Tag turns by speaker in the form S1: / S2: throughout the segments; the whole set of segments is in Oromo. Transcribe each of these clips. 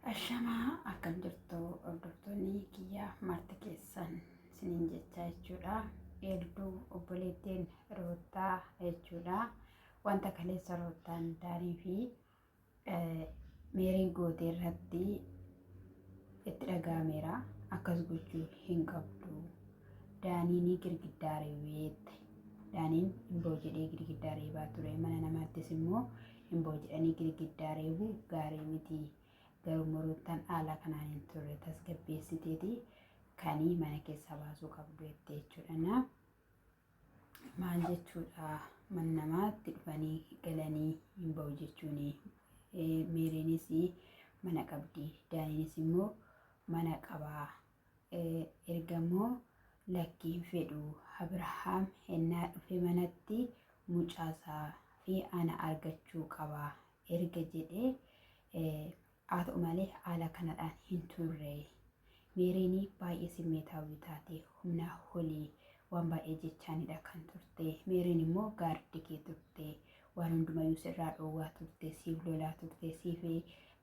S1: Ashamaa akkam jirtu hordoftoonni kiyyaa marti keessan sinin jechaa jechuudha. Eelduu obboleettiin roottaa jechuudha. Wanta kaleessa roottaan daanii fi meeriin gootee irratti itti dhaga'ameera. Akkas gochuu hin qabdu. Daaniin girgiddaa reebeette. Daaniin hin boo jedhee girgiddaa reebaa ture. Mana namaattis immoo hin boojidhanii girgiddaa reebuu gaarii miti garuu muruuttan haala kanaan hin turre tasgabbeessiteeti kanii mana keessaa baasuu qabdu jettee jechuudhana maal jechuudha man namaatti dhufanii galanii hin ba'u jechuun meeriinis mana qabdi daaniinis immoo mana qabaa Ergamoo lakki hin fedhu Abrahaam hennaa dhufe manatti mucaa isaa fi ana argachuu qaba erga jedhee haa ta'u malee haala kanadhaan hin turre. Meeriin baay'ee simmeetaawwii taate humnaa holii waan baay'ee jechaanidha kan turte. Meeriin immoo gaardi kee turte. Waan hundumayyuu sirraa dhoowwaa turte, siif lolaa turte, siif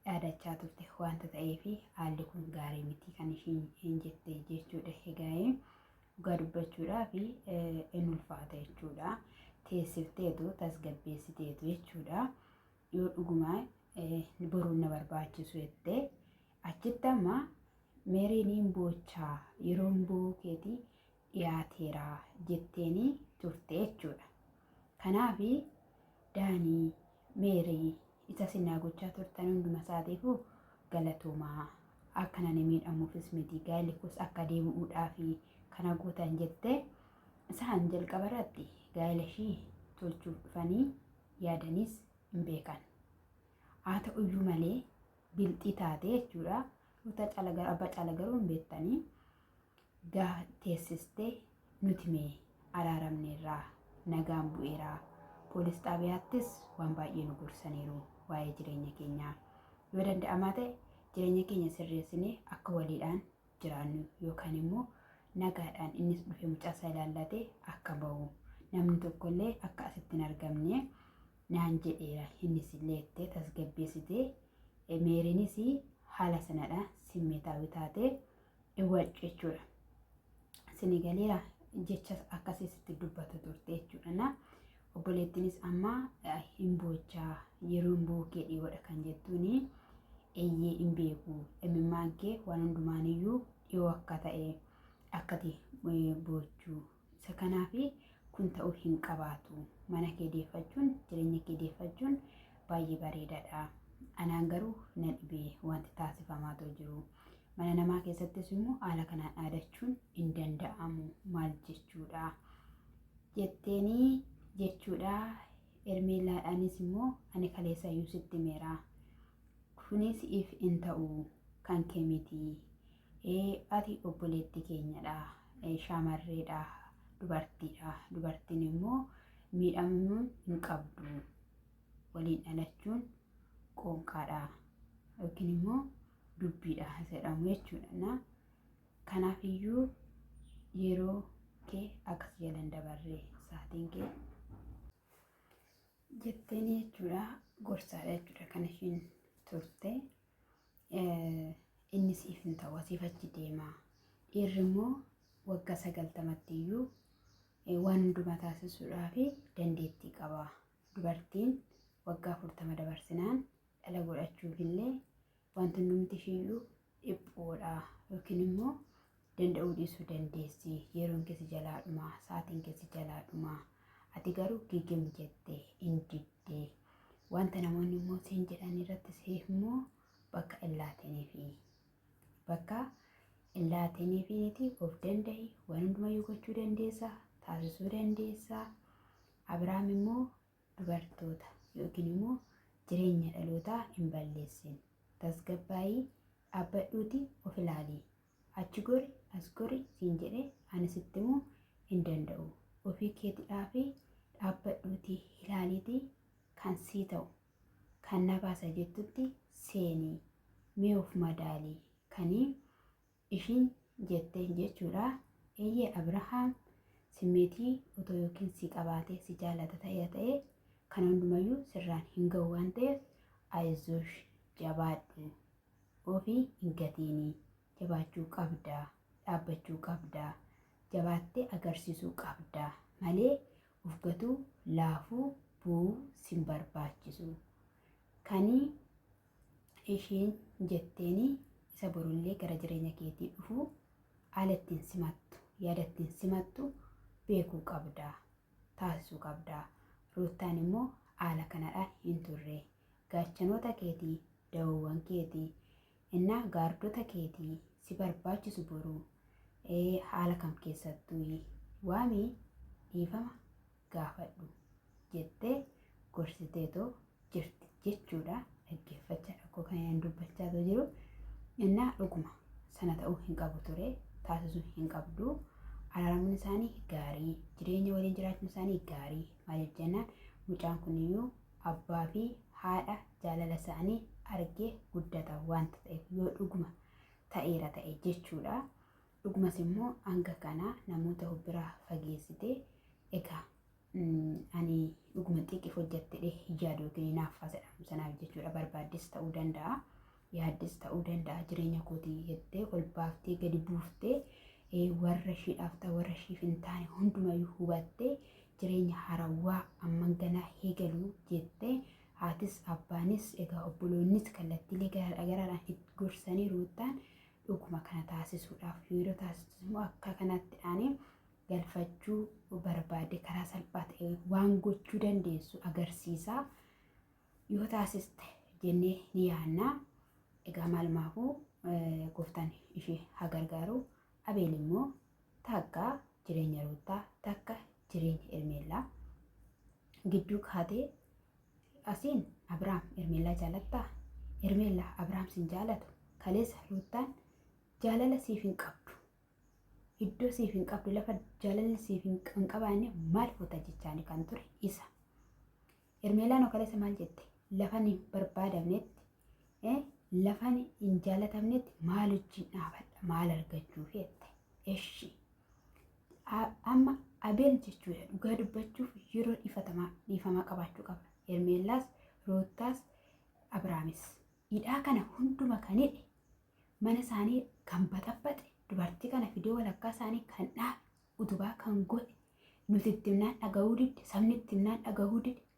S1: dhaadachaa turte wanta ta'eef haalli kun gaarii miti kan ishiin hin jette jechuudha egaa'ee dhugaa dubbachuudhaa fi hin ulfaata jechuudha teessifteetu tasgabbeessiteetu jechuudha yoo dhugumaa boruun na barbaachisu jettee achitti amma meeriin hin boochaa yeroon bookeetii dhiyaateera jetteenii turte jechuudha. Kanaaf Daanii, Meerii isa isin naa gochaa turtan hunduma isaatiifuu galatoomaa akka nani miidhamuufis miti gaa'elli koos akka deebi'uudhaafi kana gootan jette isaan jalqaba irratti gaa'ela ishii tolchuuf dhufanii yaadaniis hin beekan. Haa ta'u iyyuu malee bilxii taate jechuudha. Ruuta caala garuu abbaa caala garuu hin beektanii. gaha teessiste nuti mee araaramneerraa nagaan bu'eera poolis xaabiyaattis waan baay'ee nu gorsaniiru waa'ee jireenya keenyaa yoo danda'amaa ta'e jireenya keenya sirreessinee akka waliidhaan jiraannu yookaan immoo nagaadhaan innis dhufe mucaasaa ilaallatee akka ba'u namni tokkollee akka asitti hin argamne naan jedheera innis illee ittee tasgabbeessitee meeriinis haala sanadha simmeetaawii taatee iwwac jechuudha. Sini galeera jecha akkasii sitti dubbata turte jechuudha. Na obboleettiinis amma eh, hin boochaa yeroo hin bookee dhiyoodha kan jettuuni eeyyee hin beeku imimmaan kee waan hundumaaniyyuu dhiyoo akka ta'e akkati eh, boochuu Isa kanaaf kun ta'uu hin qabaatu. Mana kee deeffachuun, jireenya kee deeffachuun baay'ee bareedaadha. Anaan garuu na dhibe wanti taasifamaa too jiru. Mana namaa keessattis immoo haala kanaan dhaadachuun hin danda'amu. Maal jechuudha? Jetteenii jechuudha. Ermeellaadhaanis immoo ani kaleessa iyyuu sitti meera. Kuni si'iif hin ta'u, kan kee miti. Ee, ati obboleetti keenya dha, shaamarree dha, dubartii dha, dubartiin immoo miidhamuu hin qabdu. Waliin dhalachuun qoonqaa dha yookiin immoo dubbii dha jedhamu jechuudha. Na kanaaf iyyuu yeroo kee akkas jala hin dabarre sa'aatiin kee jetteen jechuudha gorsaadha jechuudha kan ishiin turte inni siif hin ta'u asiif achi deema dhiirri immoo waggaa sagaltamatti iyyuu waan hundumaa taasisuudhaa fi dandeettii qaba dubartiin waggaa afurtama dabarsinaan dhala godhachuuf illee wanti hundumti ishiiyyuu dhiphoodha yookiin immoo danda'uu dhiisuu dandeessi yeroon keessi jalaa dhumaa sa'aatiin keessi jalaa dhumaa ati garuu gigim jette hin didde wanta namoonni immoo siin jedhan irratti siif immoo bakka illaatinii fi bakka illaatinii fi niti of danda'i waan hundumayyuu gochuu dandeessa taasisuu dandeessa Abiraam immoo dubartoota yookiin immoo jireenya dhalootaa hin balleessin. Tasgabbaa'ii dhaabbadhuuti of ilaali. Achi gori as gori siin jedhe ani sitti immoo hin danda'u. Ofii keetidhaafi dhaabbadhuuti ilaaliiti kan sii ta'u kan na baasa jettutti seeni mee of madaali kanii Ishiin jetteen jechuudha. Eeyyee Abrahaam simmeetii otoo yookiin si qabaatee si jaalata ta'ee ta'e kana hundumayyuu sirraan hin ga'u waan ta'eef ayizuush jabaadhu ofii hin gatiinii jabaachuu qabdaa dhaabbachuu qabdaa jabaattee agarsiisuu qabdaa malee of gatuu laafuu bu'uu sin barbaachisu kanii ishiin jetteeni isa borullee gara jireenya keetii dhufu haala ittiin simattu yaada ittiin simattu beekuu qabda taasisuu qabda ruuttaan immoo haala kanadhaan hin turre gaachanoota keetii dawowwan keetii innaa gaardota keetii si barbaachisu boruu ee haala kam keessattuu waamii dhiifama gaafadhu jettee gorsiteetoo jirti jechuudha dhaggeeffachaa tokko kan inni dubbachaa otoo jiru innaa dhuguma sana ta'uu hin qabu ture taasisuu hin qabdu araaramuun isaanii gaarii jireenya waliin jiraachuun isaanii gaarii maaliif jennaan mucaan kuniyyuu abbaa fi haadha jaalala isaanii argee guddata wanta ta'eef yoo dhuguma ta'eera ta'e jechuudha. Dhugumas immoo hanga kana namoota bira fageessite egaa ani dhuguma xiiqiif hojjettedhe yaada yookiin hinaaffaa jedhamu sanaaf jechuudha barbaaddes ta'uu danda'a yaaddes ta'uu danda'a jireenya kootii jettee ol baaftee gadi buuftee warra ishiidhaaf ta'u warra ishiif hin taane hundumayyuu hubattee jireenya harawwaa amman ganaa eegalu jettee haatis abbaanis egaa obboloonnis kallattiilee garaadhaan gorsanii ruuttaan Dhuguma kana taasisuudhaaf yeroo taasisus immoo akka kanatti aanee galfachuu barbaade karaa salphaa ta'e waan gochuu dandeessu agarsiisaa yoo taasiste jennee ni yaanna. Egaa maalumaafuu gooftaan ishee haa gargaaru. Abeel immoo takka jireenya ruuttaa takka jireenya ermeellaa gidduu kaatee Asiin Abraam Hermeellaa jaalattaa? Hermeellaa Abraam sin jaalatu. Kaleessa Ruuttaan jaalala siif hin qabdu. Iddoo siif hin qabdu lafa jaalalli siif hin hin qabaanne maal fuuta jechaani kan ture isa. Hermeellaan hoo kaleessa maal jette? Lafan hin barbaadamnetti eh, lafan hin jaalatamnetti maal wajjin dhaabadha maal argachuuf jette. Eshi. Amma Abeel jechuudha dhugaa dubbachuuf yeroo dhiifatamaa dhiifamaa qabaachuu qaba. Hermeellaas, Ruuttaas, Abraamis. Hidhaa kana hunduma kan hidhe mana isaanii kan baxabaxe dubartii kana fidee walakkaa isaanii kan dhaabe utubaa kan godhe nuti itti himnaan dhagahuu didde sabni itti himnaan dhagahuu didde